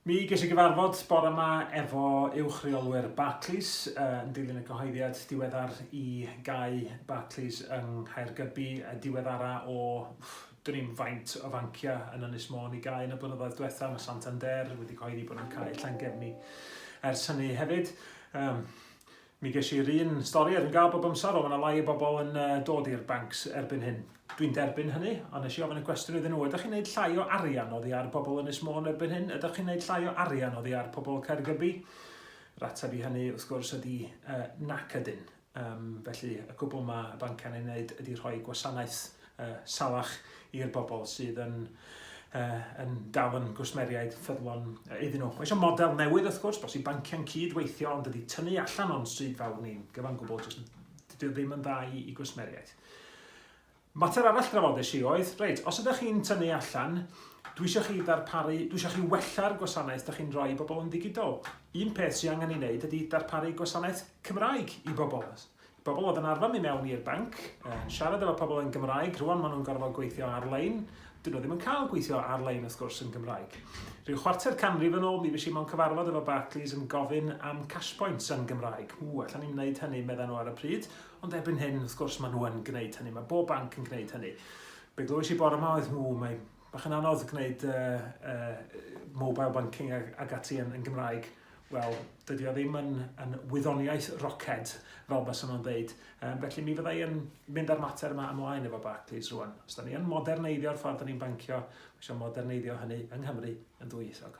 Mi ges i gyfarfod bore yma efo uwch reolwyr Barclays yn dilyn y cyhoeddiad diweddar i gau Barclays yng Nghaergybi y diweddara o drin faint o fanciau yn Ynys Môn i gau yn y blynyddoedd diwethaf. Mae Santander wedi cyhoeddi bod nhw'n cau llangefni ers hynny hefyd. Um, Mi ges i'r un stori oedd yn gael bob amser, ond mae yna lai o bobl yn uh, dod i'r banc erbyn hyn. Dwi'n derbyn hynny, ond nes i ofyn y cwestiwn iddyn nhw, ydych chi'n gwneud llai o arian oddi ar bobl yn Ysmôn erbyn hyn? Ydych chi'n gwneud llai o arian oddi ar pobl Caergybi? Rateb i hynny, wrth gwrs, ydy uh, nac ydyn. Um, felly, y gwbl mae y banciau'n ei wneud ydy rhoi gwasanaeth uh, salach i'r bobl sydd yn, uh, yn dal yn gwsmeriaid ffyddlon uh, iddyn nhw. Mae eisiau model newydd wrth gwrs, bos i banciau'n cyd weithio ond ydy tynnu allan o'n stryd fawr ni'n gyfan gwbl, jyst dydy ddim yn dda i, i gwsmeriaid. Mater arall drafodais i oedd, reit, os ydych chi'n tynnu allan, dwi eisiau chi ddarparu, dwi eisiau chi wella'r gwasanaeth ydych chi'n rhoi i bobl yn ddigidol. Un peth sy'n angen ei wneud ydy darparu gwasanaeth Cymraeg i bobl. Pobl oedd yn arfer mynd mewn i'r banc, yn siarad efo pobl yn Gymraeg, rwan maen nhw'n gorfod gweithio ar-lein. Dyn nhw ddim yn cael gweithio ar-lein wrth gwrs yn Gymraeg. Rhyw chwarter canrif yn ôl mi fues i mewn cyfarfod efo Barclays yn gofyn am cash points yn Gymraeg. Ww, allan ni'n wneud hynny, medda nhw ar y pryd. Ond erbyn hyn, wrth gwrs, maen nhw yn gwneud hynny. Mae bob banc yn gwneud hynny. Be glywais i bore yma oedd, ww, mae Bach yn anodd gwneud uh, uh, mobile banking ag, ag ati yn, yn Gymraeg. Wel, dydy o ddim yn, yn wyddoniaeth roced, fel bys nhw'n dweud. Um, felly mi fyddai yn mynd ar mater yma ymlaen efo Barclays rwan. Os da ni yn moderneiddio'r ffordd da ni'n bancio, mae eisiau moderneiddio hynny yng Nghymru yn dwyieithog.